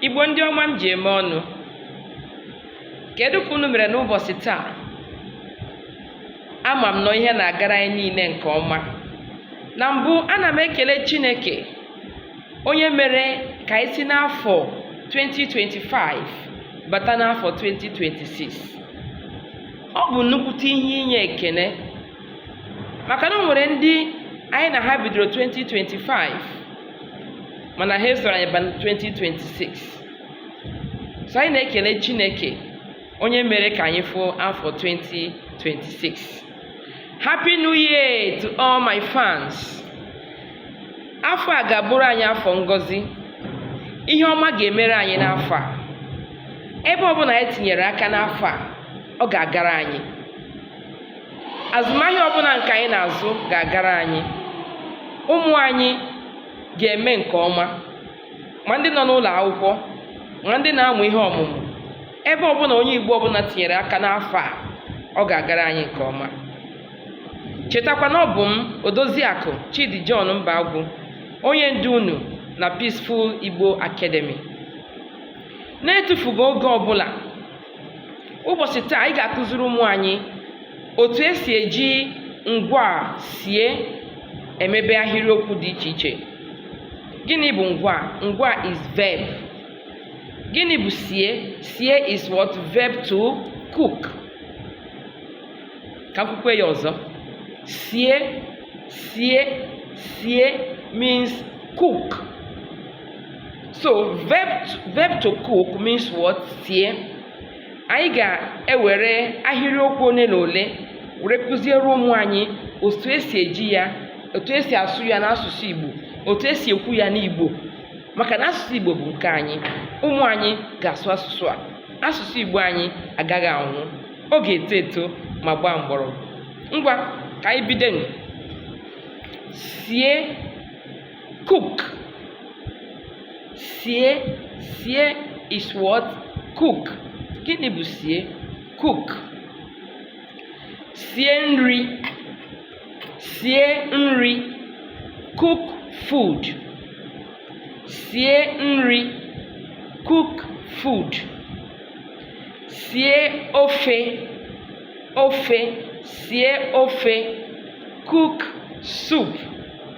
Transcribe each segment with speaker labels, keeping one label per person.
Speaker 1: Igbo ndị ọma m ji eme ọnụ kedu ka unu mere n'ụbọchị taa ama m na ihe na-agara anyị niile nke ọma na mbụ ana m ekele Chineke onye mere ka anyị si n'afọ 2025 bata n'afọ 2026 ọ bụ nnukwute ihe inye ekele maka na o nwere ndị anyị na ha bidoro 2025 mana ha esoro anyị ba 2026 so anyị na-ekele Chineke onye mere ka anyị fụ afọ 2026 Happy New Year to all my fans afọ a ga-abụrụ anyị afọ ngozi ihe ọma ga-emere anyị n'afọ a ebe ọbụla anyị tinyere aka n'afọ a ọ ga-agara anyị azụmahịa ọbụla nke anyị na-azụ ga-agara anyị ụmụ anyị ga-eme nke ọma ma ndị nọ n'ụlọ akwụkwọ ma ndị na-amụ ihe ọmụmụ ebe ọbụla onye Igbo ọbụla tinyere aka n'afọ a ọ ga-agara anyị nke ọma chetakwa na ọ bụ m Odoziakụ Chidi John Mbagwu onye ndu unu na Peaceful Igbo Academy na-etufughị oge ọbụla ụbọchị taa anyị ga-akụziri ụmụ anyị otu esi eji ngwa sie emebe ahịrịokwu dị iche iche gịnị bụ ngwa ngwa is verb gịnị bụ sie sie is what verb to cook ka m kwukwe ya ọzọ sie sie sie means cook so verb to cook means what sie anyị ga-ewere ahịrịokwu ole na ole were kụziere ụmụ anyị otu esi eji ya otu esi asụ ya n'asụsụ Igbo otu esi ekwu ya n'Igbo maka na asụsụ Igbo bụ nke anyị ụmụ anyị ga-asụ asụsụ a asụsụ Igbo anyị agaghị anwụ ọ ga-eto eto ma gbaa mgbọrọgwụ ngwa ka anyị bido sie cook sie sie is what cook gịnị bụ sie cook sie nri sie nri cook food sie nri cook food sie ofe ofe sie ofe cook soup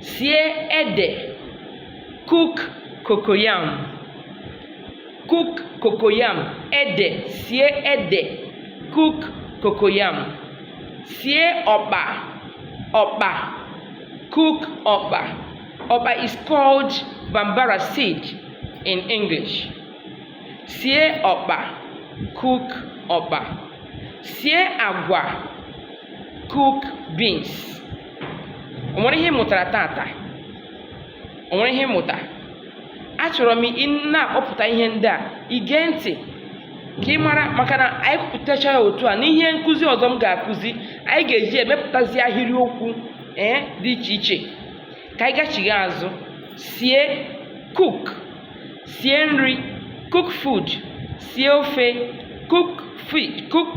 Speaker 1: sie ede cook cocoyam cook cocoyam ede sie ede cook cocoyam sie ọkpa ọkpa cook ọkpa ọkpa is called bambara seed in english sie ọkpa cook ọkpa sie agwa cook beans o nwere ihe ị mụtara tata o nwere ihe ị mụta achọrọ m na-akpọpụta ihe ndị a i gee ntị ka ị mara maka na anyị kwupụtacha ya otu a n'ihe nkụzi ọzọ m ga-akụzi anyị ga-eji emepụtazi ahịrịokwu ee eh dị iche iche ka anyị gachigha azụ sie cook sie nri cook food sie ofe cook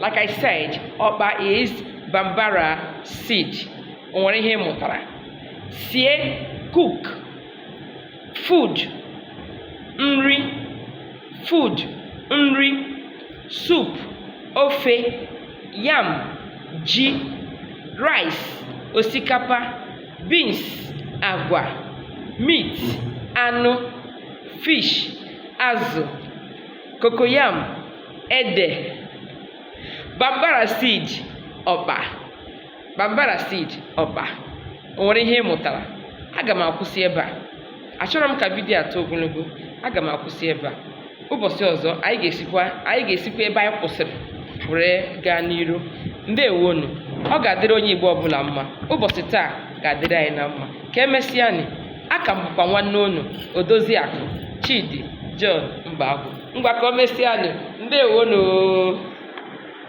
Speaker 1: like I said ọkpa is bambara seed o nwere ihe ị mụtara sie cook food nri food nri soup ofe yam ji rice osikapa beans agwa meat anụ fish azụ cocoyam ede bambara seed ọkpa bambara seed ọkpa o nwere ihe ị mụtara aga m akwụsị ebe a achọrọ m ka vidiyo a too ogologo aga m akwụsị ebe a ụbọchị ọzọ anyị ga-esikwa ebe anyị kwụsịrị were gaa n'iru ndewonu ọ ga-adịrị onye Igbo ọbụla mma ụbọchị taa ga-adịrị anyị na mma Ka emesịanị, aka m bụkwa nwanne unu, Odoziakụ Chidi John Mbagwu. Ngwa ka o mesịanị. Ndeewonụ.